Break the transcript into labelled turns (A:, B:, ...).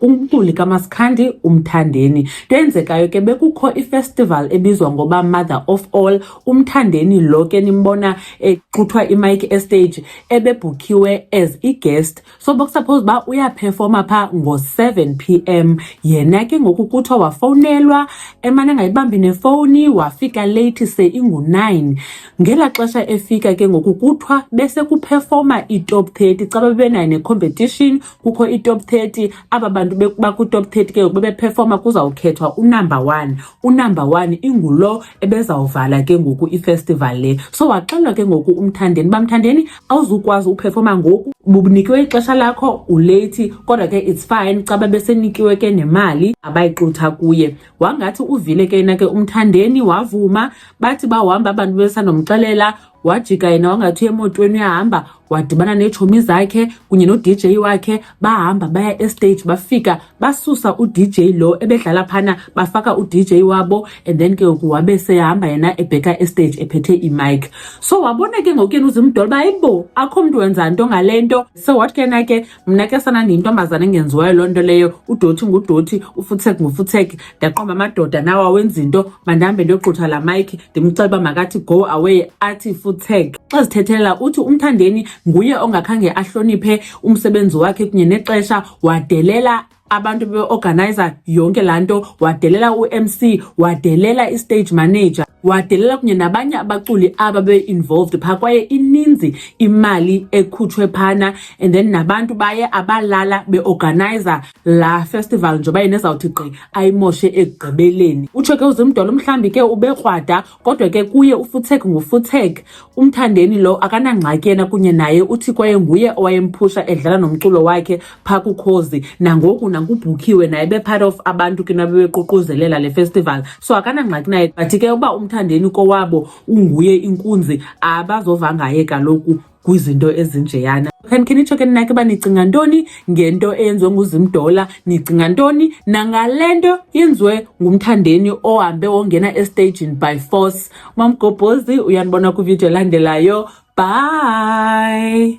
A: umculi kaMaskandi uMthandeni. Into eyenzekayo ke bekukho ifestival ebizwa ngoba Mother of All. UMthandeni lo ke nimbona exuthwa imayiki estage ebebhukhiwe as i-guest. So bokusuppose uba uyaphefoma phaa ngo-seven p m yena ke ngoku kuthiwa wafowunelwa emane angayibambi nefowuni wafika leyithi se ingu-nine. Ngela xesha efika ke ngoku kuthiwa bese kuphefoma iitop thirty caba bebenayo ne-competition kukho i-top 30 aba bantu bakwi-top 30 ke ngoku bebephefoma kuzawukhethwa unumber one unumber one ingulo ebezawuvala ke ngoku ifestival le so waxelwa ke ngoku umthandeni bamthandeni awuzukwazi uphefoma ngoku bubunikiwe ixesha lakho uleyithi kodwa ke it's fine xa babesenikiwe ke nemali abayixutha kuye wangathi uvile ke yena ke umthandeni wavuma bathi bahamba abantu besanomxelela wajika yena wangathi emotweni uyahamba wadibana neetshomi zakhe kunye no-dj wakhe bahamba baya estage bafika basusa udj lo ebedlala phana bafaka udj wabo and then ke ngoku wabe sehamba yena ebheka estage ephethe imike so wabona ke ngoku yena uzimdola uba ayibo akho mntu wenza nto ngale nto so wathi ke yena ke mna ke sana ndiyintombazana engenziwayo loo nto leyo udoti ngudoti ufutseki ngufutseki ndaqomba amadoda nawo awenza into mandihambe ndiyogqutha laa mayikhi ndimcela uba makathi go away athi futseki xa zithethelela uthi umthandeni nguye ongakhange ahloniphe umsebenzi wakhe kunye nexesha wadelela abantu beorganizer yonke laa nto wadelela umc wadelela istage manager wadelela kunye nabanye abaculi aba be-involved phaa kwaye ininzi imali ekhutshwe phana and then nabantu baye abalala beorganizer laa festival njengoba yena ezawuthi gqi ayimoshe ekugqibeleni utsho ke uzimdolo mhlawumbi ke ubekrwada kodwa ke kuye ufutsek ngufutsek umthandeni lo akanangxaki yena kunye naye uthi kwaye nguye owayemphusha edlala nomculo wakhe phaa kukhozi nangoku nankubhukhiwe naye be-part of abantu ke nabebeququzelela le festival so akanangxaki naye but ke uba umthandeni kowabo unguye inkunzi abazova ngaye kaloku kwizinto ezinjeyana khan khenitsho ke ninake uba nicinga ntoni ngento eyenziwe nguzimdola nicinga ntoni nangale nto yenziwe ngumthandeni ohambe wongena estagini by force mamgobhozi uyanibona kwividiyo elandelayo bye